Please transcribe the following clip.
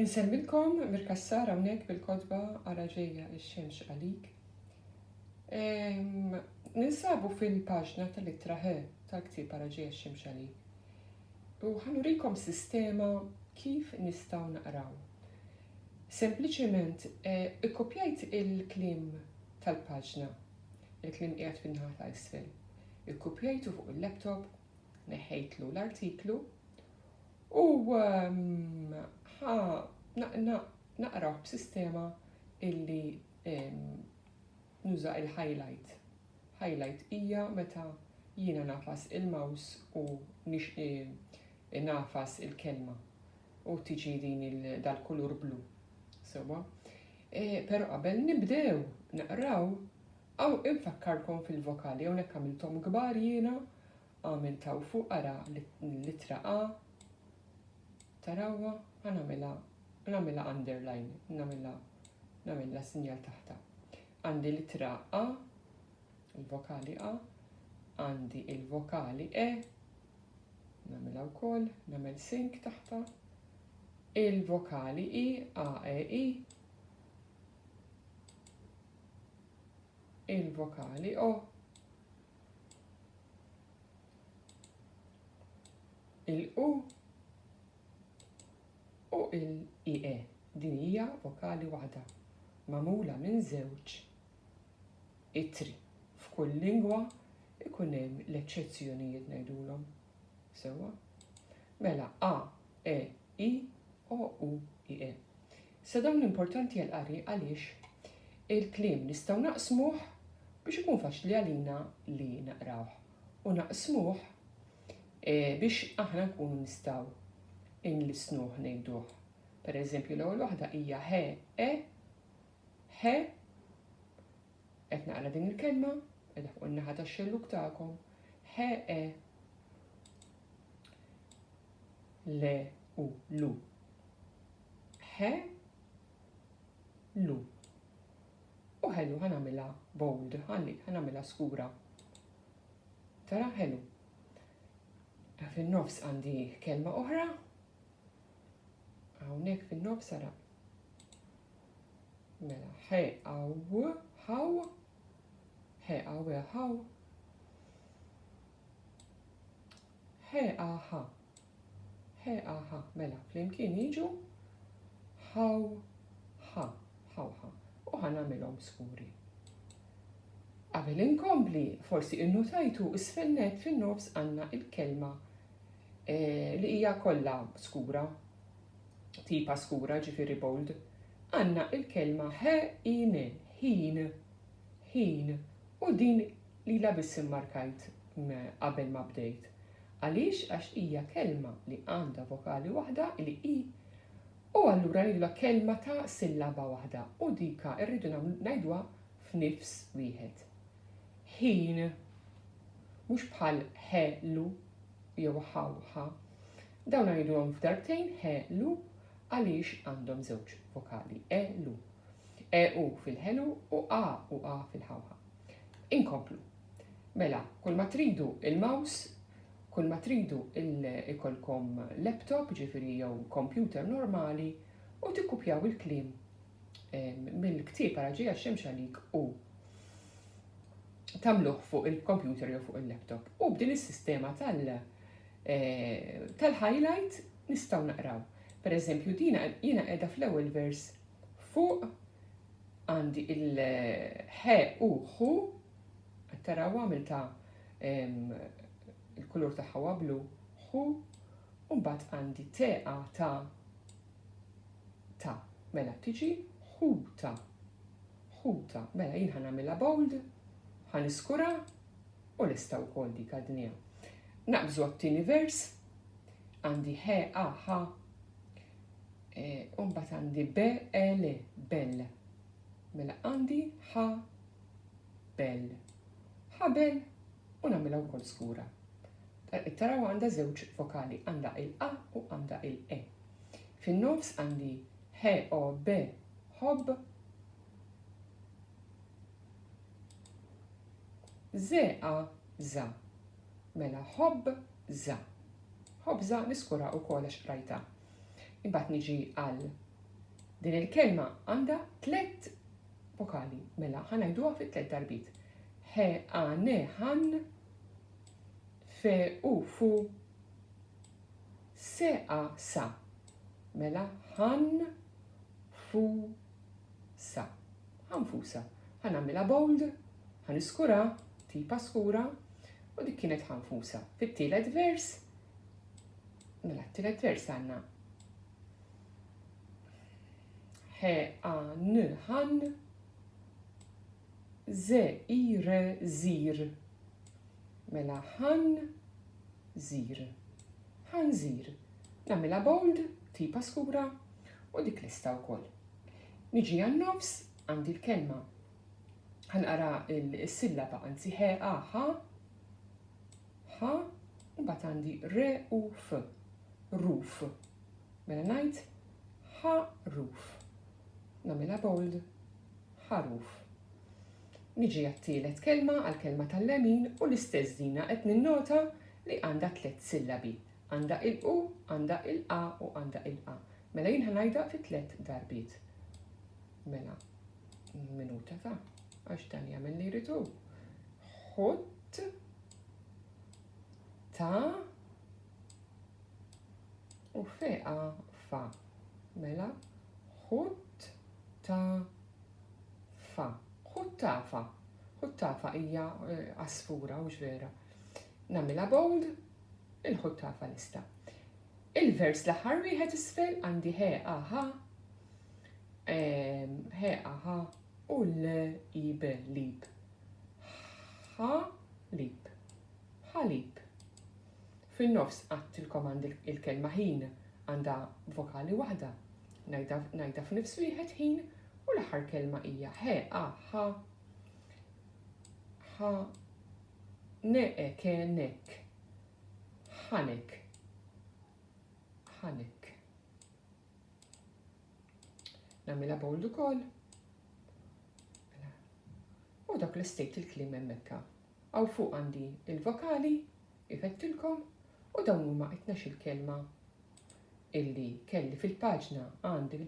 Insemmilkom mir-kassar hawnhekk bil-kotba għala ġejja x-xemx għalik. Ninsabu fil-paġna tal-ittra ħe tal-ktieb għala ġejja x-xemx għalik. U ħanurikom sistema kif nistgħu naqraw. Sempliċement eh, ikkopjajt il-klim tal-paġna, il-klim qiegħed fin-naħa ta' isfel. Ikkopjajtu fuq il-laptop Neħħejtlu l-artiklu u ħa naqrah b'sistema illi nuża il-highlight. Highlight hija meta jiena nafas il-maws u nafas il-kelma u tiġi din dal-kulur blu. Sewa. Eh, pero qabel nibdew naqraw, għaw infakkarkom fil-vokali, għonek għamiltom gbar jiena, Għamil ta' u fuq ara l-ittra A, tarawha, ħa nagħmilha nagħmilha underline, nagħmilha nagħmilha sinjal taħtha. Għandi l-ittra A, il-vokali A, għandi il-vokali E, nagħmilha wkoll, nagħmel sink taħtha, il-vokali I, A, E, I, il-vokali O, il-u u il-ie. Din hija vokali waħda magħmula minn żewġ itri. F'kull lingwa ikun hemm l-eċċezzjonijiet ngħidulhom. Sewwa? Mela a, e, i, o, u, i, e. Sa dawn importanti għall-qari għaliex il-kliem nistgħu naqsmuh biex ikun faċli għalina li naqrawh u naqsmuh e, biex aħna nkunu nistgħu inlisnuh ngħiduh. Per eżempju l-ewwel waħda hija he e he qed naqra din il-kelma qed fuq in-naħa tax-xelluk tagħkom he e le u lu. He, lu. U ħelu ħanamilha bold, ħalli ħanamilha skura. Tara ħelu. Fin-nofs għandi kelma oħra. Hawnhekk fin-nofs ara. Mela, he aw, ħaw, he aw, ħaw. He aha, He aha, mela, flimkien jiġu haw ha, hawha, u ħa nagħmilhom skuri. Qabel inkompli, forsi innutajtu isfel nett fin-nofs għandna il-kelma eh, li hija kollha skura, tipa skura ġifieri bold, għandna il-kelma he ine, ħin, ħin, u din Lilha biss immarkajt qabel ma bdejt. Għaliex? Għax hija kelma li għandha vokali waħda li hi u allura lilha kelma ta' sillaba waħda u dika rridu ngħiduha f'nifs wieħed. Ħin. Mhux bħal ħe lu jew ħaw ħa. Dawn ngħiduhom f'darbtejn ħe lu għaliex għandhom żewġ vokali e lu. E u fil-ħelu u a u a fil-ħawħa. Inkomplu. Mela, kull ma tridu il-mouse, kull ma tridu il-kolkom laptop, ġifiri jew computer normali, u tikkupjaw il-klim mill-ktib għara ġeja xemx għalik u tamluħ fuq il-computer jew fuq il-laptop. U b'din is-sistema eh, tal-highlight nistaw naqraw. Per eżempju, dina jina edha fl-ewel vers fuq għandi il-ħe u ħu, taraw għamilta il-kulur tagħha huwa blu, ħu, u mbagħad għandi teqa ta' ta' mela tiġi ħuta. Ħuta, mela jien ħanamilha bold, ħaniskura u lesta wkoll dik għadnija. Naqbżu għat-tieni vers, Għandi he a ha e, u mbagħad għandi be e le bell. Mela għandi ha bell. Ħabel u nagħmilha wkoll skura. Taraw għandha żewġ vokali, għandha il-a u għandha il-e. Fin-nofs għandi he o be hob ze a za. Mela ħobża. Ħobża niskura wkoll għax qrajtha. Imbagħad niġi għal din il-kelma għandha tliet vokali. Mela ħa ngħiduha fi tliet darbit. He a ne han fe u fu se a sa. Mela han fu Issa, ħa nfusa. Ħa nagħmilha bold, ħa niskurha, tipa skura, u dik kienet ħa nfusa. Fit-tielet vers, mela t-tielet vers għandna he a n han ze i re zir. Mela han zir. Han zir. Nagħmilha bold, tipa skura u dik lista wkoll. Niġi għan-nofs, għandi l-kelma. Ħanqara s-sillaba anzi he a ha ha u mbagħad għandi re u f ruf. Mela ngħid ha ruf. Nagħmilha bold ħaruf. Niġi għat-tielet kelma għall-kelma tal-lemin u l-istess dina qed ninnota li għandha tliet sillabi. Għandha ilqu, għandha ilqa' u għandha ilqa'. Mela jien ħa ngħidha fi tliet darbiet. Mela, minuta ta' għax dan jagħmel li jrid hu. Ħutt ta' u feqa fa. Mela, ħutt ta' fa. Ħutt ta' fa. Ħutt ta' fa hija eh, asfura, mhux vera. Namila bold, Il-ħut tagħrfha lista. Il-vers l-aħħar wieħed isfel għandi he aha ehm, he aha u l ib lib. Ha lib. Ħalib. Fin-nofs qatt il-komand il-kelma ħin għandha vokali waħda. Najda f'nifs wieħed ħin u l-aħħar kelma hija he aha ha Ne'ek e nek. Ħanek. Ħanek. Namila bold ukoll. Mela. U dak li stejt il-klim hemmhekka. Aw fuq għandi il-vokali, ifettilkom, u dawn huma qed il-kelma illi kelli fil-paġna għandi fil-paġna